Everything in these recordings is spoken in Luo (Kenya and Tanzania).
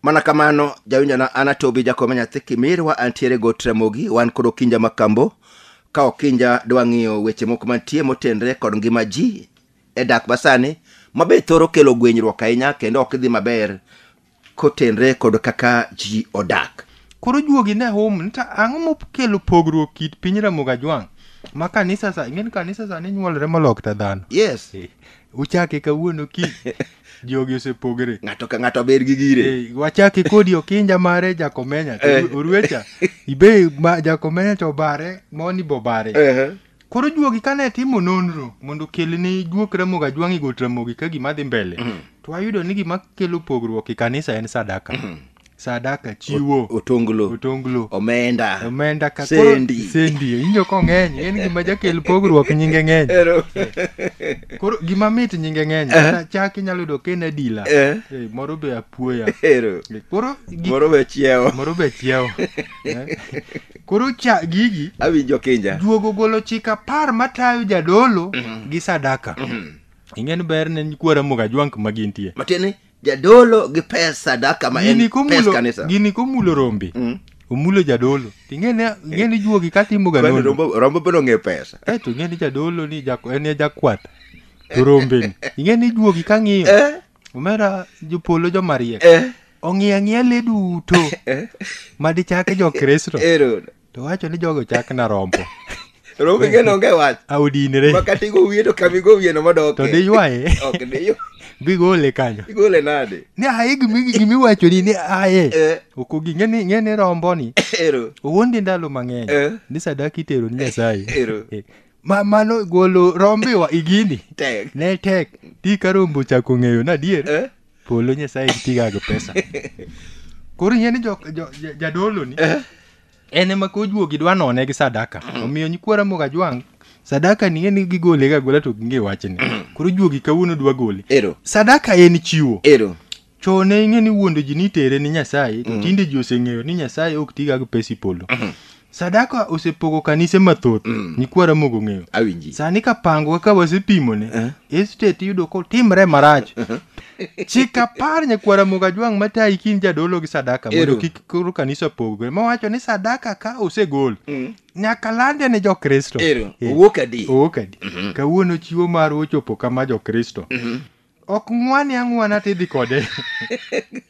mana kamano jawinjona an atobi jakome nyathi kimirwa antiere go tramogi wan kod okinja makambo ka okinja dwa ng'iyo weche moko mantie motenre kod ngima ji e dak masani mabe thoro kelo gwenyruok ahinya kendo ok idhi maber kotenre kod kaka ji odak. Koro juogi ne hum ni ta ang'o mokelo pogruok kit piny Ramogi Ajwang' ma kanisa sa ing'e ni kanisa sani nyuolre molok ta dhano. Yes, Uchake kawuono ki jogi osepogre. ng'ato ka ng'ato ber gi gire. Eh, wachake kodi okinja mare jakomenya Eh. oruecha ibe ma- jakomenya to obare moni bobare Ehe. Koro juogi kane timo nonro mondo okel ni juok Ramogi Ajwang'i got Ramogi ka gima dhi mbele, to ayudo ni gima kelo pogruok e kanisa en sadaka. Sadaka, chiwo, Otonglo, otonglo, omenda, omenda ka sendi. koro sendi injo kong'eny en gima jakel pogruok nyinge ng'eny. Ero. Koro gima mit nyinge ng'eny kata chak inyalo yudo ka en adila. Eh. Eh, Moro be apuoya. Ero. Eh, Koro gi- Moro be chiewo. moro be chiewo. Eh, Koro cha gigi awinjo kinja juogo ogolo chik apar matayo jadolo gi sadaka ing'en ber ne nyikwa ramoga jwank ma gintie matieni jadolo gi pes sadaka ma en gini pes komulo kanisa gini komulo rombe Mm. omulo jadolo to ing'eni ing'eni juogi katimoga Kwani nono rombo rombo bende ong'e pesa Eh, to ing'eni jadolo ni jako- en e jakwath to rombeni ing'eni juogi kang'iyo Eh. omera jopolo jomariek eh. ong'iyo ang'iya le duto eh. ma dichake jokristo to wacho ni jogo chak na rombo rombo ing'eno onge wach audinre makata igo wiye to kama igo wiyeno modoke to diywaye ok diywaye bigole kanyo igole nade ni aye gimiwacho ni ni aye eh. okogi ng'eni ng'eni romboni ero owuondi ndalo mang'eny eh. ni sadaka itero ni nyasaye ero eh. ma mano golo rombiwa igini Tek. ne tek ti ka rombo ochako ng'eyo na adier Eh? polo nyasaye tiga gi pesa koro ing'e ni jo- jo- ja- jadolo ni Eh? en ema ka ojuogi dwa none gi sadaka omiyo nyikwara moga jwang sadaka ni ng'eni gigole ga gola to ging'e wachni koro juogi kawuono dwa gole Ero. sadaka en chiwo Ero. Chon ne ing'e ni wuondo ji nitere ni Nyasaye, to tinde ji oseng'eyo ni Nyasaye ok tiga gi pes ipolo. Sadaka osepogo kanise mathoth, nyikwa Ramogi ong'eyo. Awinji. Sani ka pango kaka wasepimone, estate iyudo kotimre marach. Chik apar nyakwa Ramogi Ajwang' matayi kin jadolo gi sadaka mondo Ero. kik koro kanisa pogre. Mowacho ni sadaka ka osegol, nyaka lande ne Jokristo. Ero, Eh. owuok adi? Owuok adi? Kawuono chiwo marwa ochopo kama Jokristo. ok ng'wane ang'wana tidhi kode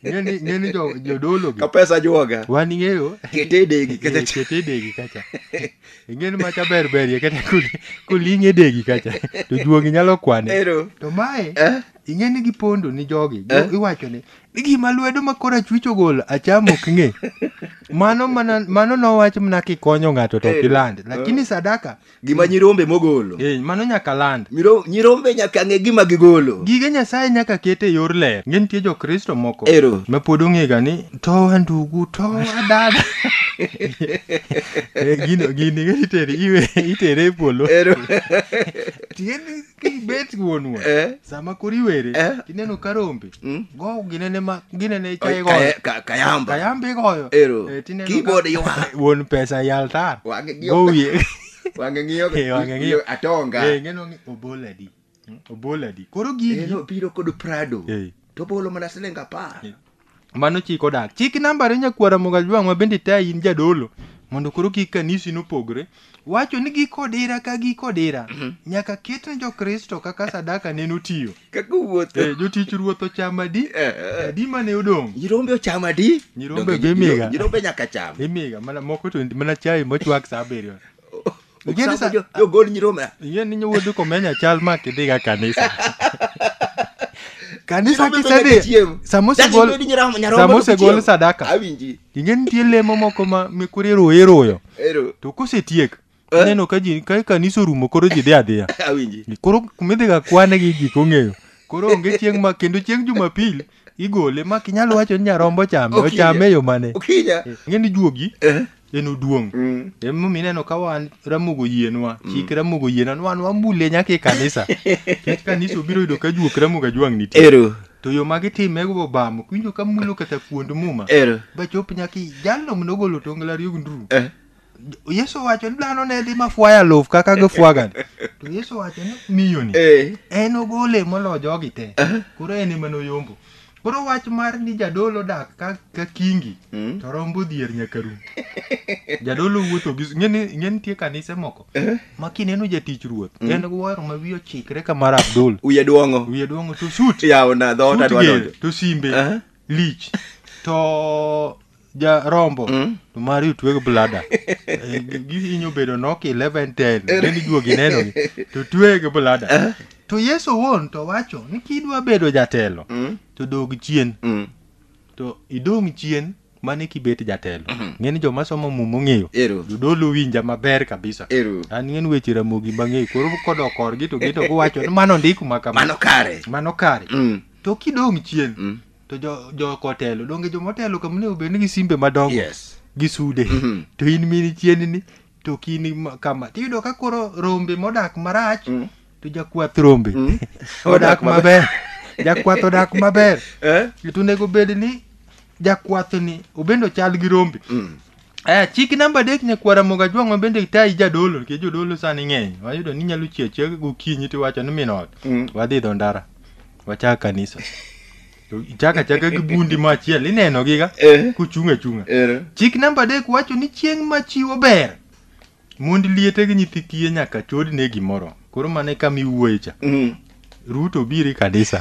ng'eni ng'eni jo- jodolo gi ka pesa juoga wan ing'eyo kete e degi Eh, kacha kete e degi kacha ing'eni macha ber berie kata kul- kuling' e degi kacha to juogi nyalo kwane ero to mae eh ing'e ni gipondo ni jogi Eh. Jo- iwacho ni ni gima lwedo ma kora chwich ogolo acham ok ng'e mano mana mano nowach mana kikonyo ng'ato to ok Eh. iland lakini sadaka gima nyirombe mogolo Eh, mano nyaka land. Miro- nyirombe nyaka ng'e gima gigolo Gige Nyasaye nyaka ket e yor ler. Nge nitie Jokristo moko Ero. ma pod ong'ega ni towa ndugu, towa dada. Eh, Gino gini iteri iwe itere e polo. Ero. Tiende kibet wuonwa Eh. sama koro iwere Eh. tineno ka rombe Mm. go ginene ma ginene Oy, ichaye goyo kaye- ka- kayamba kayamba igoyo Ero. Eh, tineno ka- Keyboard ywak. wuon pesa yal tar Wang'e gi- go wiye wang'e ng'iyo Eh, wang'e ng'iyo. ng'iyo atonga Eh, ng'eno ni oboladi Mm, oboladi koro gigi Eno biro kod prado Eh. to bolo mana siling apar Mano chik odak. Chik nambare nyakwara Mogajwang' ma bende tayi in jadolo mondo koro kik kanisi nopogre. Wacho ni giko odira ka giko odira nyaka ket ne Jokristo kaka sadaka ne notiyo. Kaka wuoth. Eh, jotich ruoth ocham adi? Eh, eh. Adi mane odong'? Nyirombe ocham adi? Nyirombe Donge gi miga. Nyirombe nyaka cham. Imiga mana moko to mana chai mochwak saa abiriyo. Ing'e ni sa- Oksambo jo- jogol nyirombe ing'e ni nyowuodu komenya chal ma kidhiga kanisa kanisa Nyirombe bende kisedhi chiemo. sama Dadi osegol bedi nyirombe- nyarombo sama to osegol chiemo. sadaka awinji ing'e nitie lemo moko ma mikuri iruyo iruyo ero to kosetiek Eh? ineno ka ji ka kanisa orumo koro ji dhi adhiya awinji koro kumidhiga kwane gi gik ong'eyo koro onge chieng' ma kendo chieng' jumapil igole ma kinyalo wacho ni nyarombo chame Okinya. ochame e yo mane Okinya. ng'e ni juogi Eh. en oduong' Mm. emomiyo ineno ka wan ramogo yienwa chik ramogo yienwa ni wan wamule nyaka e kanisa kech kanisa obiro yudo ka juok ramogo ajwang' nitie Ero. to yo ma gitime go obamo kiwinjo ka mulo kata kuond muma Ero. bachop nyaka i- jalno mnogolo tongla riog nduru Eh. yesu owacho ni dhano ne dhi ma fwaya luf kaka gifwagani to yesu owacho ni miyoni Eh. en ogole molo jogi te koro en ema noyombo koro wach mar ni jadolo dak ka, ka kingi Mm. to rombo dhier nyaka rum jadolo wuotho gi ng'eni ng'e nitie kanise moko ma kineno jatich ruoth en wuoro ma wiye ochikre ka mar abdul Uye duong'o. wiye duong'o to sut Yawo na dhoot sut adwa ger, donjo. to simbe Aha. lich to ja rombo mm. to mari otweg blada eh, gihinyo bedo nok 11 10 then ijuogi neno ni to tweg blada eh? to yesu owuon to wacho ni kidwa bedo jatelo mm. to dog chien mm. to idong chien mane kibet jatelo mm -hmm. ng'eni joma somo muma ong'eyo jodolo winja maber kabisa an ng'en weche ramogi mang'eyo koro kodok korgi to gito giwacho ni mano ndiko ma kamano kare mano kare mm. to kidong chien mm. to jo jo kotelo donge jo motelo kama onego bed ni gi simbe madongo yes gi sude Mhm. to in mini chienni to kini ma- kama tiyudo ka koro rombe modak marach Mm. to jakwath rombe Mm. odak maber jakwath odak maber eh to onego bed ni jakwathni obende ochal gi rombe Mm. Aya, chik namba adek nyakwar Ramogi Ajwang' ma bende tayi jadolo nikech jodolo sani ng'eny. Wayudo ni inyalo chiew achiewa gokinyi tiwacho ni min ot. Mm. Wadhi idho ndara. Wachak kanisa. To Ichaka chaka gi bundi ma achiel inenogiga Eh. kuchung' achung'a. Ero. Chik namba adek wacho ni chieng' ma chiwo ber Mond liete gi nyithi kiye nyaka chod ne gimoro. Koro mane kama iwuoye cha. Mm. Ruto biri kanisa.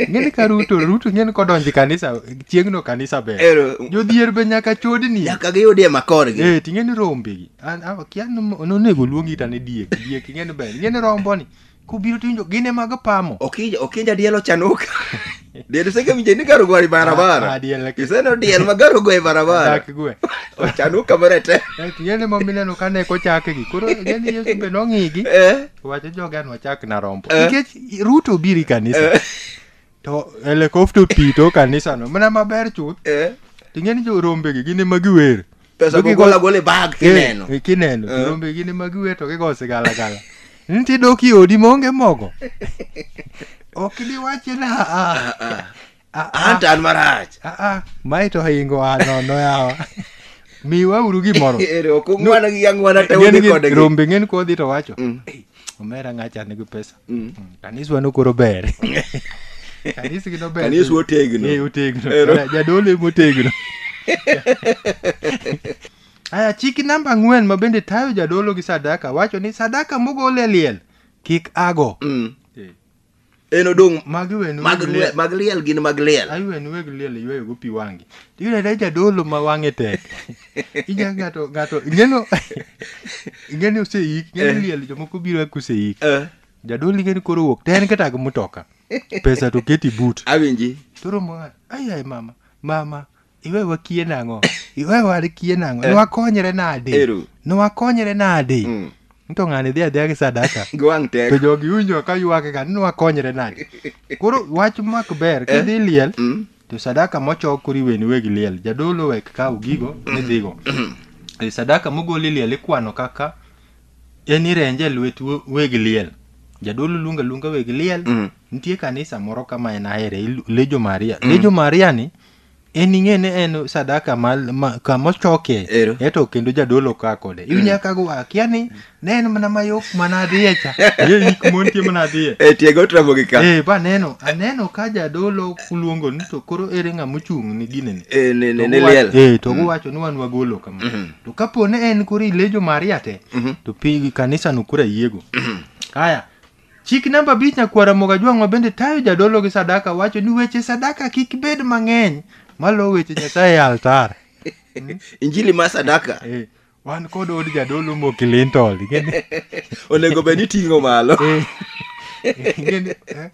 Ng'eni ka Ruto, Ruto ng'eni kodonji kanisa, chieng'no kanisa ber. Ero. Jodhier be nyaka chodni. Nyaka giyudie makorgi. Eh, ting'eni rombegi. An akia ni onego luongi tane diek. Diek ing'eni ber. Ing'eni romboni. kubiro to winjo gine mag pamo Okinja okinja diel ochanuka. Diel seke mje ni garo gwari Ah, barabara. ah, diel laki- Iseno diel ma garo gwari barabara. dak gwe Ochanuka marete. Eti yene ma mineno ka ne kochakgi koro yene yesu be nong'igi Eh. wacho joga nwa chak na rombo Eh. nikech ruto obiro i kanisa to helicopter oti to kanisa no mana maber chuth Eh, ting'e ni jorombe gi gin ema giwer pesa Jogi gogola gole bag Eh, kineno eh, kineno Eh. jorombe gin ema giwer to gigo sigalagala nitie dok i odi maonge mogo ok diwache na ah, ah. Ah, ah, anta an marach ah, ah. mae to hingo a nono yawa miwauru gimoro ere ok ung'wana gi ang'wana te Ng'eni udhi gi- kodgi rombe ng'eni kodhi to wacho Mm. omera ng'acha nigi pesa mm. mm. kaniswa nokoro ber kanisgi nober kaniswa otegno eh, otegno jadolo ema otegno aya chiki namba ang'wen ma bende tayo jadolo gi sadaka wacho ni sadaka mogol e liel kik ago mm. en odong mag wen mag weg liel. liel mag liel gin mag liel Ayi wen weg liel yweyo go pi wangi. Iyudo da jadolo ma wange tek. Ija ngato ngato ingeno ingeni oseik, ingeni liel jomoko biro kuseik. Eh, Jadolo ingeni koro wuok ten kata gi mutoka. Pesa to keti but. awinji Toro mwana, ayi ayi mama, mama, iwe wakie nang'o iwe warikie nang'o nwakonyre nade Ero. nwakonyre nade Mm. nto ng'ani dhi adhiya gi sadaka Gi wang' tek. to jogi winjo ka ywakega ni nwakonyre nade koro wach mak ber kidhi liel Mm. to sadaka mochok koro iweni weg liel jadolo wek kaw gigo midhigo E, sadaka mogol e liel ikwano kaka en irenje e lwet we- weg liel jadolo luonga luonga weg liel Mm. nitie kanisa moro kama en ahere ilu- lejo maria lejo maria ni en ing'e ni en sadaka ma, ma, kama ochoke Ero. eto kendo jadolo ka kode iwinja mm. kago akia ni ne en mana mayok mana adhiye cha ye yik montie mana adhiye e tiego tramo gi ka eh ba neno aneno ka jadolo kuluongo ni to koro ere ng'a mochung' ni gine ni e ne ne ne liel eh to mm. wacho ni wan wagolo kama mm -hmm. to kapo ne en koro ilejo maria te mm -hmm. to pi kanisa no kura yiego mm -hmm. haya Chik namba abich Nyakwar Ramogi Ajwang' ma bende tayo jadolo gi sadaka wacho ni weche sadaka kik bed mang'eny malo weche Nyasaye e altar. Injili mar sadaka Eh, wan kod od jadolo mokilintol. Ingeni- onego bed ni ting'o malo. eh, ingeni- eh,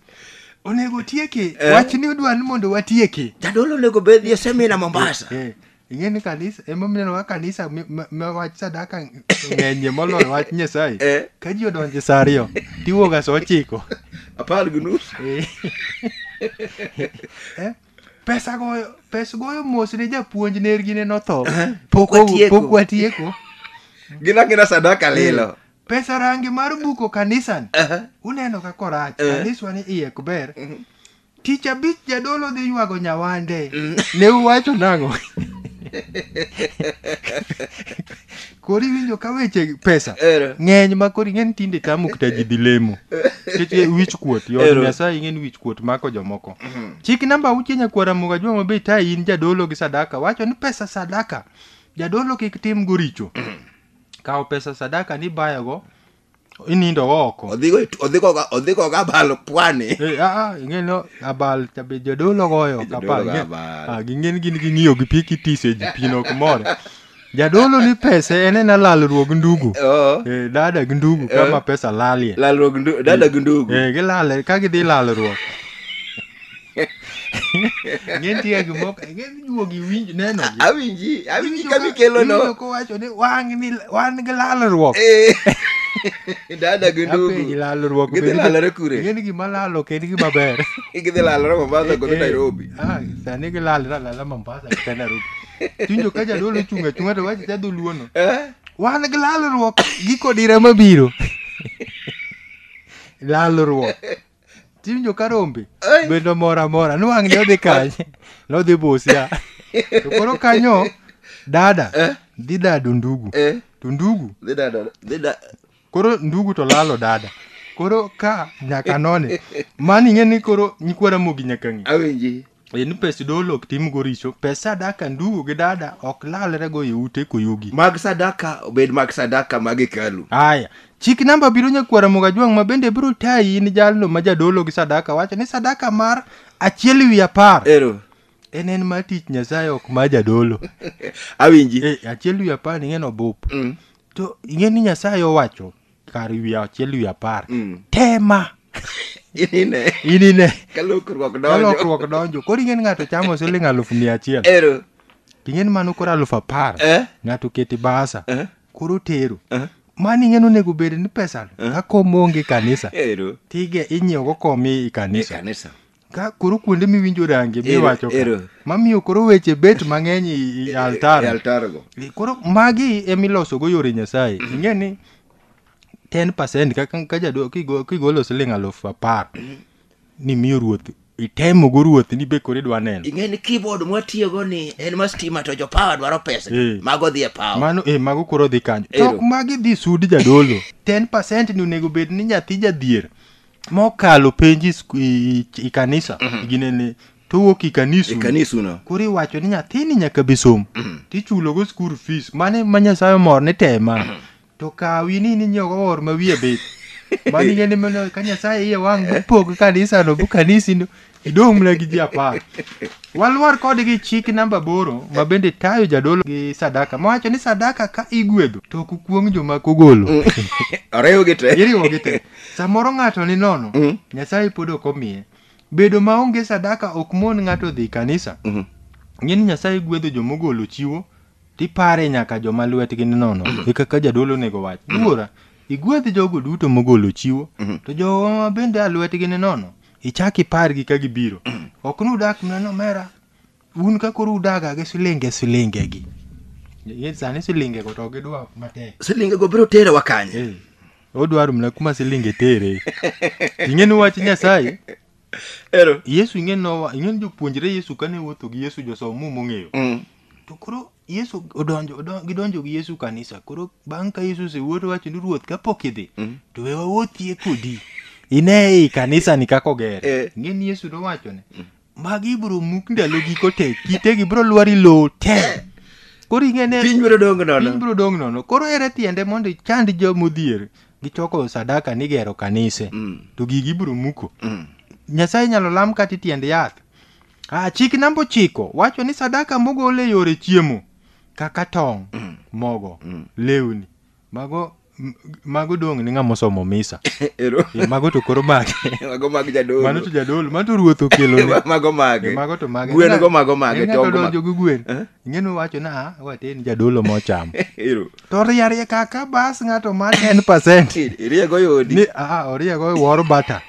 Onego tieki. Eh. Wach ni udwa ni mondo watieki. Jadolo onego bed ni osemina Mombasa. Eh, ing'e ni kanisa emomiyo ineno ka kanisa mi- ma- ma wach sadaka ng'enyie moloyo wach nyasaye Eh. ka ji odonje sa ariyo tiwuoga sa ochiko apar gi nus Eh. Eh, pesa goyo pes goyo mos ne japuonj nergi ne notho Pok watieko. pok watieko gin angina sadaka lilo pesa rangi mar buko kanisan Aha. uneno ka korach Eh. kaniswa ni iye ok ber Tich abich jadolo dhi ywago nyawande. Ne uwacho nang'o? kori winjo ka weche pesa Ero. ng'eny ma kori ng'en tinde tamo kata ji dhi lemo seche wich kuot yod Ero. nyasaye ing'en wich kuot mako jomoko chik namba auchiel nyakwara muga jwa mabe ta in jadolo gi sadaka wacho ni pesa sadaka jadolo kik tim go richo kawo pesa sadaka ni bayogo inindo go oko odhigo e tu- odhigo ga- odhigo ga balo pwani Eh, ah, ah, ing'eni o- abal cha be jadolo goyo ok Jadolo apar, goyo ing'e- abal. ah, ging'eni gin ging'iyo gi pi kitise ji pi nok more jadolo ni pese en ena lalruog ndugu Oo. Eh, dada gi ndugu kama pesa lalie lalruok ndu- dada gi ndugu Eh, gilale ka gidhi lalruok Ng'entie gi moko, ng'eny juogi winj neno gi. Awinji, awinji Iwinjo ka mikelo no. iwinjo kowacho ni wang' ni wan gi lalruok. Eh. Dada gi Apenji ndugu. lalruok. Gidhi bende- lalore kure? Ng'eni gima lalo ok en gima ber. Gidhi lalore Mombasa kod Eh, eh. Nairobi. Ah, sani gilalre alala Mombasa kata Nairobi. Tiwinjo ka jadolo ochung' achung'a to wacho cha dholuono. Eh? Wan gi lalruok giko dira mabiro. Lalruok. tiwinjo ka rombe Ai. bende omor amora niwang' ne odhi kanye nodhi busia to koro kanyo dada Eh. dhi dado ndugu Eh, to ndugu dhi dada, dhi da- koro ndugu to lalo dada koro ka nyaka none mani ing'e ni koro nyikwara mogi nyaka ng'i awinji Ni pes dolo ok timgo richo, pes sadaka ndugu gi dada ok lalrego e ute koyugi. Mag sadaka obed mag sadaka mag hekalu. Aya, chik namba biro nyakwara Mogajwang' ma bende biro tayi in jalno ma jadolo gi sadaka wacho ni sadaka mar achiel wi apar Ero, en en mar tich Nyasaye ok mar jadolo. awinji. Eh, achiel wi apar ing'e ni obup. Mm. To ing'e ni Nyasaye owacho kar wiye achiel wiye apar Mm. tema Inine. inine Ka lokruok ka donjo. lokruok donjo koro ing'eni ng'ato chamo siling alufu mia achiel Ero. ting'eni mano koro alufu apar Eh? ng'ato keti basa Eh? koro tero Eh? mano ing'eni onego bed ni pesano ka kom onge kanisa Ero. tige inyiewogo kom i E kanisa kanisa. Ka koro kuonde miwinjo range Ero- miwacho ka, ero. mamiyo koro weche bet mang'eny i- i E altar. altargo. E, Koro magi emilosogo yore Nyasaye. Ing'e ni 10% kaka ka jadolo kigo- kigolo siling alufu apar ni miyo ruoth itemogo ruoth ni be koro idwa neno. ing'e ni keyboard mwatiyogo ni en ma stima to jopawa dwaro pesa Eh. mago dhi e pawa Mano e mago koro dhi kanyo. Ero. Tok magi dhi sud jadolo. 10% ni onego bed ni nyathi jadhier mokalo penji sku- i- i- i kanisa Mhm. ginene to wuok i kanisu ikanisuno koro iwacho ni nyathini nyaka bi som tichulogo school fees mane ma nyasaye omor ni tema to kawi ni ninyiewogo or ma wiye bith maningeni mana ka nyasaye iye wang' bupog kanisano bu kanisino Idong'ne gi ji apar. Walwar kodgi chik namba aboro ma bende tayo jadolo gi sadaka mawacho ni sadaka ka igwedho to ok ukuong' joma kogolo. Oriwgi te. Iriwogi te. Samoro ng'ato ni nono, Mm. Nyasaye pod ok omiye. Bedo maonge sadaka ok mon ng'ato dhi kanisa. Mhm. Ng'e ni Nyasaye gwedho joma ogolo chiwo tipare nyaka joma lwetgi ni nono. E kaka jadolo onego wach. Wuora, igwedh jogo duto mogolo chiwo, Mhm. to joma bende a lwetgi ni nono ichak ipargi ka gibiro ok ni udak mna nomera un ka koro udaga gi silinge silinge gi Ye- sani silinge go to gidwa matek silinge go biro terewa kanye Eh, odwaro mna kuma silinge tere ing'e ni wach nyasaye ero yesu ing'e nowa ing'e ni jopuonjre yesu kane wuotho gi yesu josom muma ong'eyo Mm. to koro Yesu odonjo, odonjo gidonjo gi Yesu kanisa. Koro bang' ka Yesu osewuoto wacho ni ruoth kapok idhi to we wawuothie kodi. Ine i kanisa ni kako ger. Eh. Ng'e ni Yesu nowacho ne magi ibro muk ndalo giko te kitegi bro lwari lowo te. Koro ing'e ne Piny biro dong' nono. piny bro dong' nono. Koro ere tiende mondo ichand jo modhier gichoko sadaka ni gero kanise Mm. to gigi ibro muko. Mm. Nyasaye inyalo lam kata i tiend yath. Ah, chik namba ochiko wacho ni sadaka mogol e yore chiemo kaka tong', mogo, lewni mago m- mago dong' ni ng'ama osomo misa. Ero. Eh, mago to koro mage. Mago mag jadolo. Mano to jadolo, mano to ruoth okelo ne. mago mage. Eh, mago to mage. Gwen go mago mage. En tong' nyaka go donjo mago. gi gwen. Eh? Ing'eno wacho na ah, wate ni jadolo mocham. Ero. To riarie kaka bas ng'ato ma 10%. Iriego yodi. Ni ah oriego wor bata.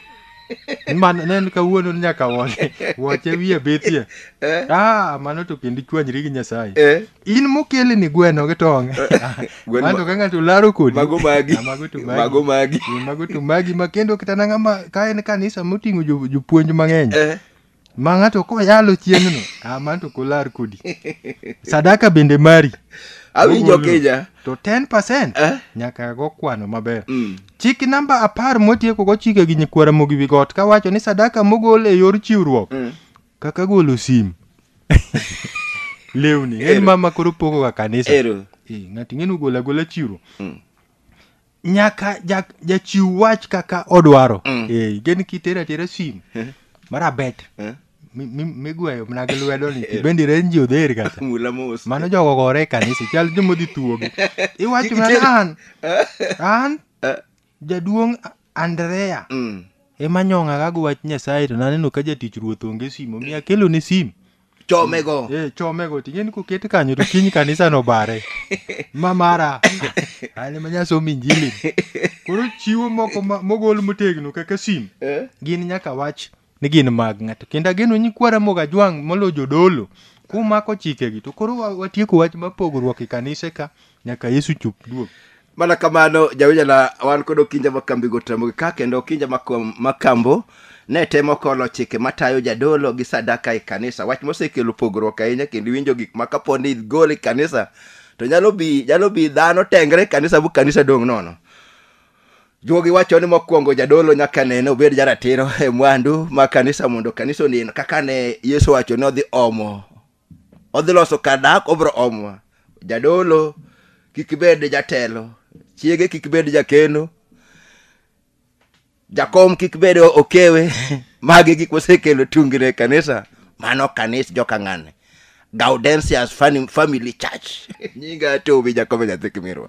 Mano ne en kawuono ni nyaka wone wache wiye betie. Eh? Ah, mano to kendo ichwanyri gi Nyasaye. Eh? In mokele ni gweno gi tong'. Gweno Mano ma- ka ng'ato laro kodi. Mago magi. Ah, Mago to magi. Mago magi. Eh, Mago to magi ma kendo kata nang'a ma ka en kanisa moting'o jo- jopuonj mang'eny. Eh? ma ng'ato koyalo chieng'no ah, man to kolar kodi sadaka bende mari awinjo Ogolo. kija to 10 Eh? nyaka go kwano maber Mm. chik namba apar motieko go chike gi nyikwara mogi wi got kawacho ni sadaka mogol e yor chiwruok Mm. kaka golo sim lewni en Ero. mama koro pogoga kanisa ero Eh, ng'ato ing'eni ogolo agola chiwruok Mm. nyaka ja- jachiw wach kaka odwaro Eh, gen kitero atera sim marabet Eh. mi- mi- migweyo mana gi lwedo ni tibendi renji odher kata mula mos mano jogo gore e kanisa chal jomodhi thuogi iwacho mana Kitero- an an Eh. jaduong' andrea Mm. ema nyong'agago wach nyasaye to naneno ka jatich ruoth onge sim omiyo akelone sim chome go eh chome go tingeni koket kanyo to kiny kanisa no bare ma mara ale ma nyasom injili koro chiwo moko ma- mogol motegno kaka sim Eh? gin nyaka wach ni gin mag ng'ato kendo ageno ni kwara moga jwang' molo jodolo kumako chikegi to koro wa- watieko wach ma pogruok e kanise ka nyaka yesu chop duog mana kamano jawinjana wan kod okinja ma kambigo temogi ka kendo okinja ma kom- ma kambo ne temo kolo chike matayo jadolo gi sadaka e kanisa wach mosekelo pogruok ahinya kendo iwinjo gik ma kapo ni igol e kanisa to nyalo bi nyalo bi dhano tengre e kanisa bu kanisa dong' nono juogi wacho ni mokwongo jadolo nyaka nene obed jaratiro e mwandu ma kanisa mondo kanisa onen kaka ne yesu wacho ni odhi omo odhi loso kar dak obro omwa jadolo kik bed jatelo chiege kik bed jakeno jakom kik bed okewe magi gik mosekelo tungni e kanisa mano kanis jokang'ane gaudensias Fani- family church nyinga tobi jakobo nyathi kimirwa